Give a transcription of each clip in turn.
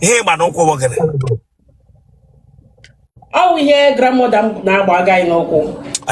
ihe ị gba n'ụkwụ bụ gịnị ọ bụ ihe grandmother m na-agba aga anyị n'ụkwụ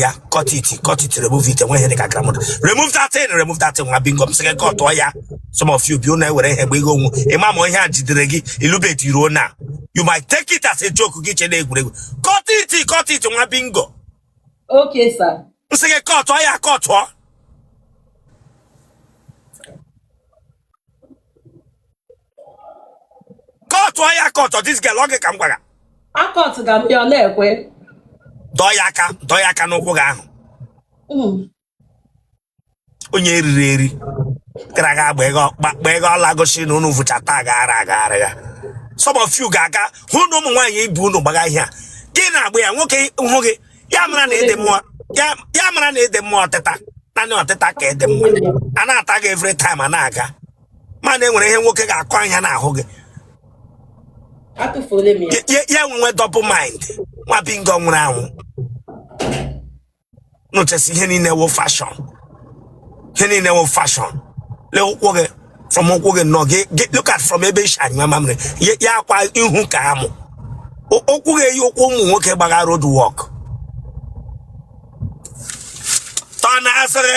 ya cut it cut it remove it enweghị dịka grandmother remove that thing remove that thing nwa bingo m sị gị kọtụọ ya some of you bi unu ewere ihe gbe ego onwu ị ma ma ihe a jidere gị ị lụbeghị di ruo now you might take it as a joke gị che na egwuregwu cut it cut it nwa bingo Okay, sir. M sị gị kọtụọ ya kọtụọ. Kọtụọ ya kọtụọ this girl ọ gị ka m gwara. Akọtụ ga m ya ọ na-ekwe. Dọọ ya aka dọọ ya aka n'ụkwụ gị ahụ. Mm. onye eriri eri gara aga gba ego gba- gba ego ọla gosi na unu vụchata agaghara agaghara ya some of you ga-aga hụ na ụmụ nwaanyị ibe unu gbaga ihe a gị na-agba ya nwoke hụ gị ya mara na ị dị mma ya ya mara na ị dị mma ọtịta naanị ọtịta ka ị dị mma a na-ata gị every time a na-aga mana enwere ihe nwoke ga-akụ anya n'ahụ gị atụfuola m ya ya ya enwe double mind nwa bingo nwụrụ anwụ nụchasị ihe niile wụ fashion ihe niile wụ fashion lee ụkwụ gị from ụkwụ gị nnọọ gị gị- look at from ebe i si anyụ mamịrị ya- ya akwa ihu ka amụ Ụ- ụkwụ gị eyi ụkwụ ụmụ nwoke gbagha road walk tọ na asịrị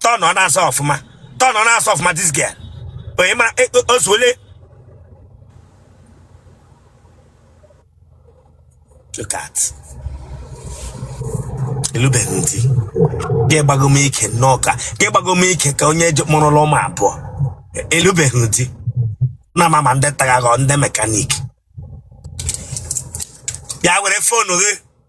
turn ọ na-asa ọfụma turn ọ na-asa ọfụma this girl onye ma e- o- ozuole look at ị lụbeghị di gị gbago m ike nnọọ ka gị gbago m ike ka onye je- mụrụla ụmụ abụọ ị lụbeghị di na ma ma ndị tagaghọ ndị mechanic ya were phone gị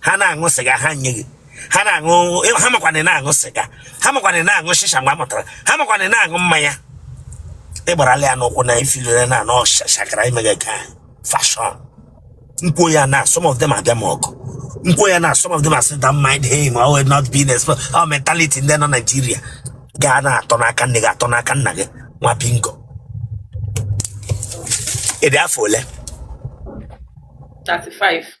ha na-aṅụ sịga ha nye gị ha na-aṅụ ha makwana na-aṅụ sịga ha makwana na-aṅụ shisha mgbe a mụtara ha makwana na-aṅụ mmanya ị gbarala ya n'ụkwụ na ị feelara na ọ shakara ị mega ka fashion m kwuo ya now some of them abịa m ọkụ m kwuo ya now some of them asị don't mind him ọ wụ not being exposed our mentality ndị nọ Naijiria gaa na-atọ n'aka nne gị atọ n'aka nna gị nwa bingo ị dị afọ ole 35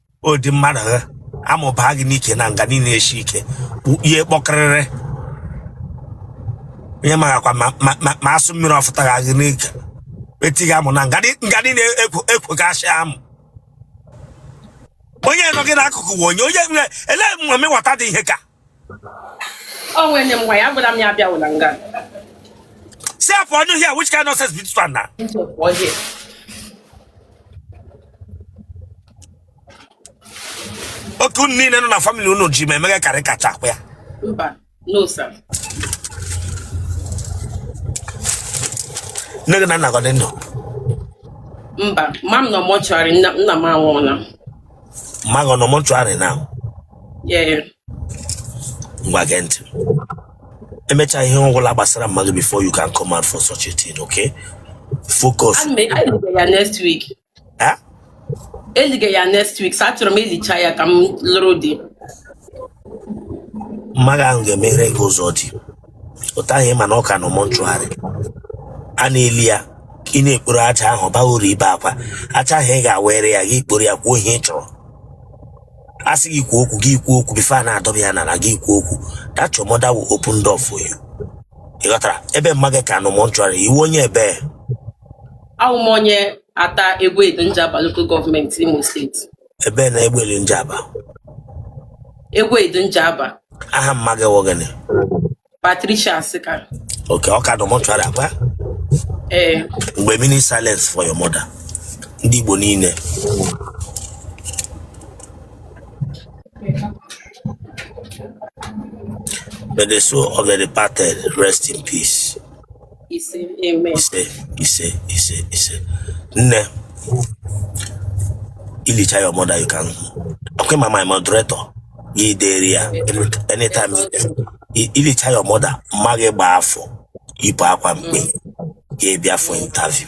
ọ dị mmadụ ha amụbaa gị n'ike na nga niile esi ike ihe kpọkịrịrị onye marakwa ma- ma- ma- ma asụ mmiri ọ fụtara gị n'ike etighị amụ na nga dị- nga niile ekwo- ekwogasị amụ onye nọ gị n'akụkụ bụ onye onye nwe ele mami wata dị ihe ka Oh, when them why? I'm gonna be abịala nga. Say for no here, which kind of nonsense be this one now? Into a boy here. otu unu niile nọ na family unu ji ma eme karị kacha akwa ya Mba, no sir. nne gị na nna gị ọ dị ndụ Mba, mama m nọ mortuary nna nna m anwụọla. mma gị ọ nọ mortuary na Yeah. ngwa gee ntị ị mechaa ihe ọ wụla gbasara mma gị before you can come out for such a thing okay focus elige ya next week. eh? Elige ya next week. So achọrọ m e lichaa ya ka m lụrụ di. mma gị ahụ ga-emeghere gị ụzọ di otu ahụ ị ma na ọ ka nọ mortuary a na-eli ya ị na-ekporo aja ahụ baa uru ibe akwa aja ahụ ị ga-ewere ya gị kporo ya kwuo ihe ị chọrọ a sị gị kwuo okwu gị kwuo okwu before a na-adọba ya n'ala gị kwuo okwu that your mother will open door for you ị ghọtara ebe mma gị ka nọ mortuary ị wụ onye ebee Awụ m onye Atta Egwedu Njaba Local Government Imo State. ebee na egbeli Njaba Egwedu Njaba aha mma gị wụ gịnị Patricia Asika okay ọ ka dụ mortuary akwa ee one minute silence for your mother ndị Igbo niile May the soul of the departed rest in peace. ise amen ise ise ise ise nne i lichaa your mother you can okay ma my moderator ya dere ya any- anytime you dey. I- i lichaa your mother mma gị gbaa afọ i yipụ akwa mkpe ya ị bịa for interview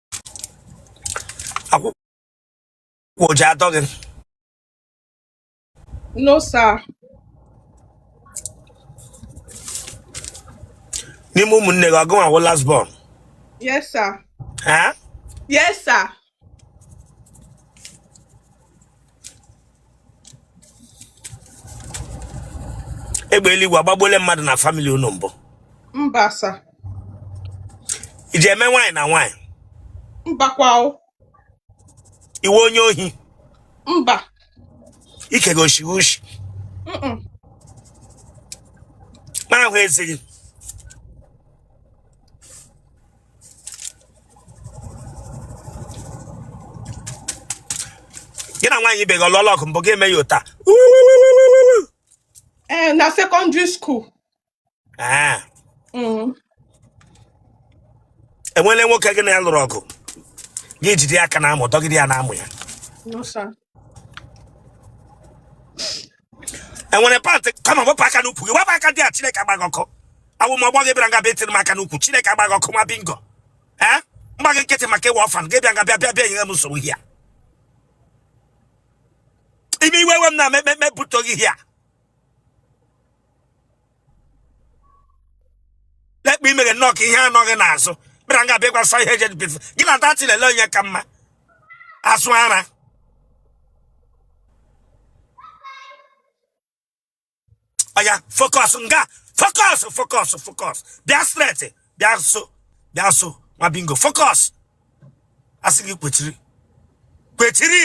akwụkwọ ọ ji atọ gị No, sir. n'ime ụmụnne gị ọ gịnwa wụ last born Yes, sir. ha Yes, sir. egbe eluigwe agbagbuola mmadụ na family unu mbụ mba sir i ji eme nwaanyị na nwaanyị mbakwa ị wụ onye ohi mba ike gị oshi oshi na-ahụ ezughị gị na nwaanyị ibe gị alụọla ọgụ mbụ gị eme ya ụta ee na secondary school Ah, Mm. e nwele nwoke gị na ya lụrụ ọgụ gị jide ya aka n'amụ dọgide ya n'amụ ya No, sir. enwere pantị kọmọn wepụ aka n'ukwu gị wepụ aka dia chineke agba gị ọkụ awụ m ọgbọ gị bịara nga bịa etiri m aka n'ukwu chineke agba gị ọkụ nwa bingo ee m gba gị nkịtị maka ị wụ ọfan gị bịa nga bịa bịa bịa nyere m nsogbu hia ime iwe we m na mekpekpe buto gị hia lekwa imere nnọọ ka ihe a nọ gị n'azụ bịara nga bịa gbasa ihe ejedebe gị na dati lele onye ka mma asụ ara ọya fokọs nga fokọs fokọs fokọs bịa streti bịa so bịa so nwa bingo fokọs a sị gị kwechiri kwechiri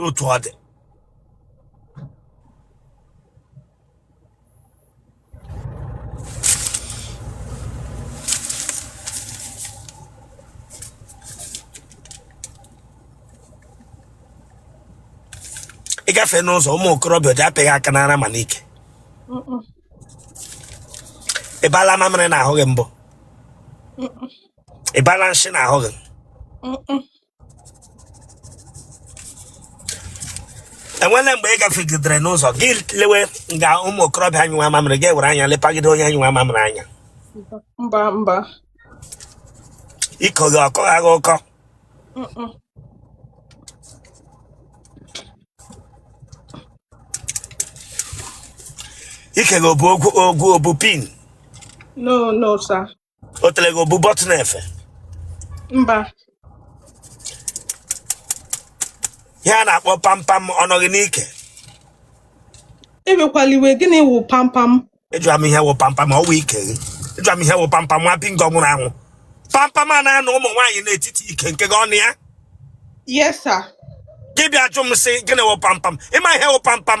otu ọ dị ị gafe n'ụzọ ụmụ okorobịa dị apị gị aka n'ara ma n'ike ịbala mamịrị n'ahụ gị mbụ ịbala nshị n'ahụ gị enwele mgbe ị gafegidere n'ụzọ gị lewe nga ụmụ okorobịa anyụwa mamịrị gị were anya lepagide onye anyụwa mamịrị anya mba mba ike gị ọ kọ gị agha ọkọ Mm-mm. ike gị o bu ogwu ogwu o bu pin no no sir otele gị o bu bọtụl efe mba ihe a na-akpọ pampam ọ nọ gị n'ike ewekwala iwe gịnị wụ pampam ịjụa m ihe wụ pampam ọ wụ ike gị ịjụa m ihe wụ pampam nwa bingo nwụrụ anwụ pampam a na-anọ ụmụ nwaanyị n'etiti ike nke gị ọ nọ ya yes sir gị bịa jụ m sị gịnị wụ pampam ị ma ihe wụ pampam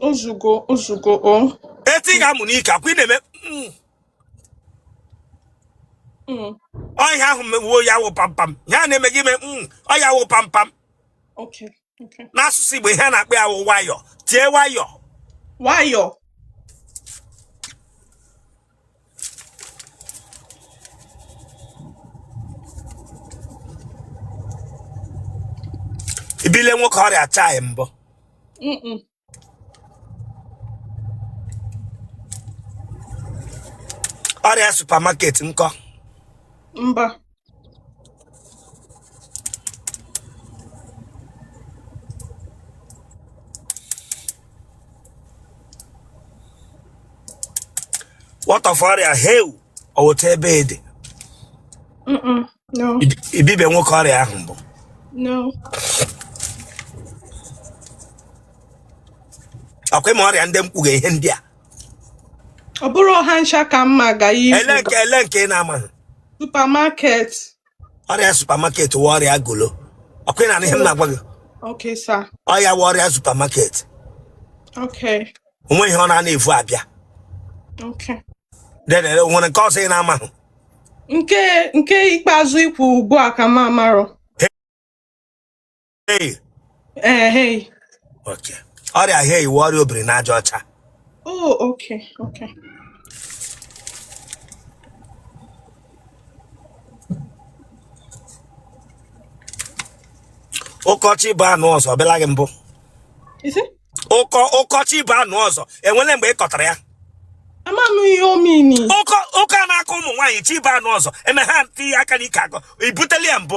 Ozugo, Ozugo, oh. Eti gị amụ n'ike ọkwa ị na-eme mm. Mm. ọ ihe ahụ mewe ya wụ pampam ihe a na-eme gị ime mm, ọ ya wụ pampam Okay, okay. n'asụsụ Igbo ihe a na-akpọ ya wụ nwayọ tie nwayọ nwayọ? ibile nwoke ọrịa achaghị mbụ Mm-mm. ọrịa supamaket nkọ mba what of ọrịa heu ọwụta ebe ede Mm-mm. No. ibibe nwoke ọrịa ahụ mbụ No. ọ kwa ị ma ọrịa ndị m kpọga ihe ndị a Ọ bụrọ ha ncha ka m ma ga ya ele ikwu nke ele nke ị na-amaghị Supermarket. ọrịa supermarket wụ ọrịa golo ọ kwa ị na-anụ ihe m na-agwa gị Okay, sir. ọ ya wụ ọrịa supermarket Okay. o nwe ihe ọ na-ana evu abịa Okay. dedere nwere nke ọzọ ị na-amaghị Nke nke ikpeazụ i kwu ugbu a ka m amarọ. Hey, Ee, hei. okay. ọrịa hei wụ ọrịa obiri n'aja ọcha Oh, okay, okay. ọkọ chi bọọ anụ ọzọ ọ bịala gị mbụ Is it? ọkọ ọkọ chi bọọ anụ ọzọ enwele mgbe ị kọtara ya Ama m ihe ọ mean. ọkọ ọkọ a na-akọ ụmụ nwaanyị chi bọọ anụ ọzọ eme ha etinye aka n'ike akọ i butele ya mbụ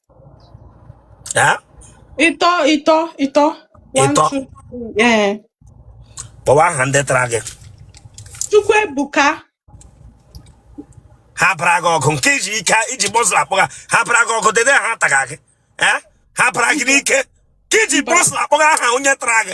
Eh? Ịtọ ịtọ ịtọ. One, Ịtọ. two, three. Ee. Kpọwa aha ndị tara gị. Chukwuebuka. Ha bara gị ọgụ nke i ji ike i ji muscle akpọ ha. Ha bara gị ọgụ dede ha taga gị. Eh? Ha bara gị n'ike. Ka i ji muscle akpọga aha onye tara gị.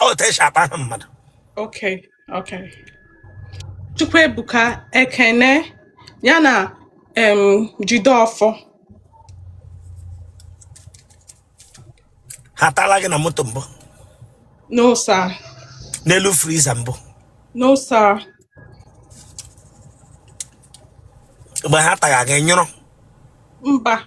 ọ otu e si akpọ aha mmadụ Okay, okay. Chukwuebuka Ekene ya na um, Jideofor. ha atala gị na moto mbụ No sir, n'elu freezer mbụ no sir. mgbe ha taga gị ị nyụrụ Mba,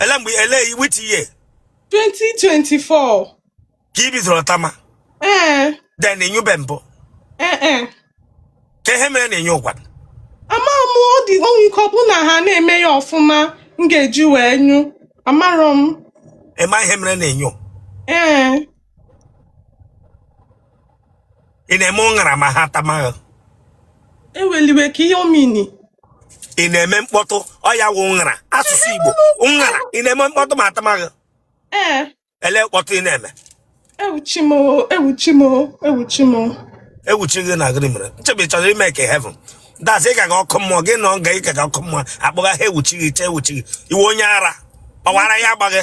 ele mgbe ele which year 2024 ka i bidoro tama ee then ị nyụbe mbụ ee ee ka ihe mere na ịnyụ ụgwa amarọ m ọ dị o nwe ike ọ bụ na ha na-eme ya ọfụma m ga-eji wee nyụ amarọ m ị ma ihe mere na ịnyụ ee ị na-eme ụṅara ma ha tama gị eweliwe ka ihe ọ mean ị na-eme mkpọtụ ọ ya wụ ụṅara asụsụ igbo ụṅara ị na-eme mkpọtụ ma a tama gị ee ele mkpọtụ ị na-eme ewuchi m o, ewuchi m o, ewuchi m o. ewuchi gị na gịnị mere nchebe ị chọrọ ị make heaven that's ị ka ga ọkụ mmụọ gị nọ nga ị ka ga ọkụ mmụọ akpọga ha ewuchi gị chee ewuchi gị iwe onye ara ọ wụ ara ya agba gị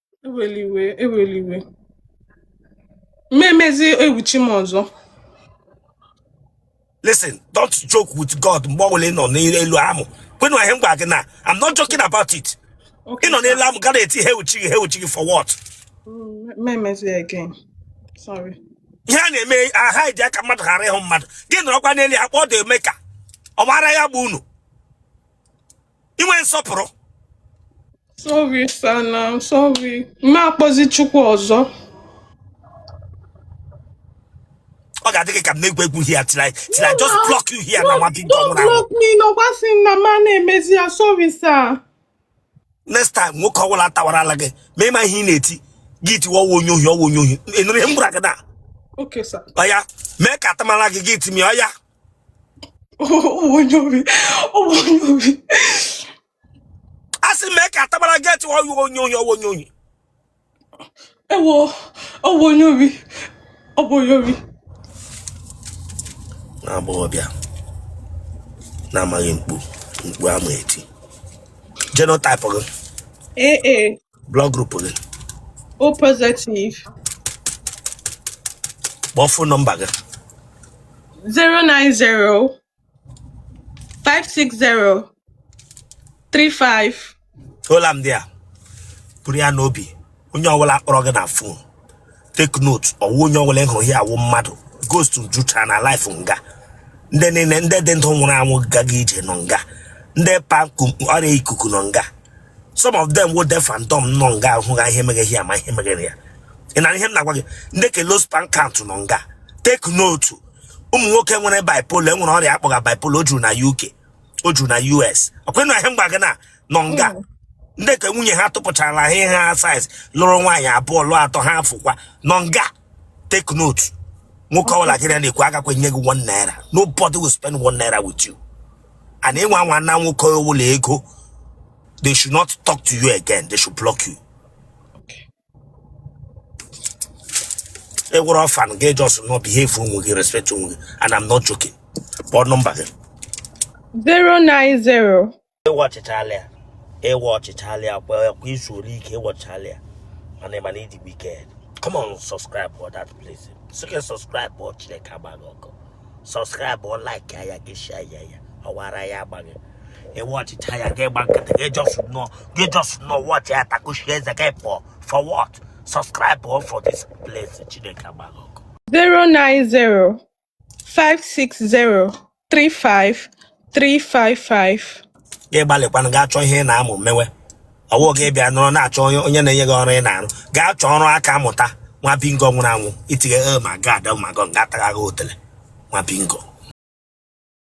eweliwe eweliwe mmemezi ewuchi m ọzọ listen don't joke with god mgbe ọbụla ị nọ n'elu amụ kwenu ihe m gwara gị na i'm not joking about it ị nọ n'elu amụ ga na-eti ihe uchi gị ihe uchi gị for what mmemezi mm, again sorry ihe a na-eme aha iji aka mmadụ ghara ịhụ mmadụ gị nọrọkwa n'elu ya kpọọ dị eme ka ọ mara ya bụ unu inwe nsọpụrụ Sorry, sir. Sorry. M ma akpọzi Chukwu ọzọ. ọ ga-adị gị ka m na-egwu egwu here till I till I just block you here na nwa big Don't ọ nwụrụ anwụ block me. Nọkwa sị m na ma na-emezi ya. Sorry, sir. next time nwoke ọbụla tawara ala gị ma ị ma ihe ị na-eti gị tiwa ọ wụ onye ohi ọ wụ onye ohi ị nụrụ ihe m gwara gị na Okay, sir. ọya mee ka a tawara gị gị tie ọya onye ohi onye ohi a sị mee ka a tabara gị eti ọ wụ onye onye ọ wụ onye onye ewo ọ wụ onye ohi ọ bụ onye ohi na agbọghọbịa na-amaghị mkpu mkpu ama eti genotype gị ee ee blood group gị O positive kpọọ fon nọmba gị 090 560 35 tola m dị a buru ya n'obi onye ọbụla kpọrọ gị na fon take note ọ wụ onye ọbụla ị hụrụ here wụ mmadụ ghost juchara na live nga ndị niile ndị dị ndụ nwụrụ anwụ gagha ije nọ nga ndị pa ọrịa ikuku nọ nga some of them wụ deaf and dumb nọ nga ahụ ha ihe meghe ya ma ihe meghere ya ị na ihe m na-agwa gị ndị ke low sperm count nọ nga take note ụmụ nwoke nwere bipolar e nwere ọrịa a kpọga bipolar o juru na UK o juru na US ọkwa na ihe m gwa gị na nọ nga hmm. ndị ke nwunye ha tụpụchara ha ihe ha size lụrụ nwaanyị abụọ lụọ atọ ha afụkwa nọ nga take note nwoke ọbụla gị na-ekwu agakwa nye gị one naira nobody will spend one naira with you and ịnwa nwa na nwoke ọbụla ego they should not talk to you again they should block you e nwere ọfan gị just not behave onwe gị respect onwe gị and I'm not joking kpọọ nọmba gị 090 ị watchịchala ya ị watchịchala ya kwa kwa izu like ị watchịchala ya mana ị ma na ị dị wicked come on subscribe for that place sị gị subscribe kpọọ Chineke agba gị ọkụ subscribe like ya gị share ya ya ọwara ya agbaghị ị watchịcha ya gị gba nkịtị gị just nọ gị just nọ watch ya takushi eze gị pụọ for what subscribe o for this place chineke agba gị ọkụ 090 560 35 355 gị gbalịkwanụ gaa chọọ ihe ị na-amụ mewe ọ wụghị ịbịa nọrọ na-achọ onye na-enye gị ọrụ ị na-arụ gaa chọọ ọrụ aka mụta nwa bingo nwụrụ anwụ itinye oh my god oh my god ga-atagha gị otele nwa bingo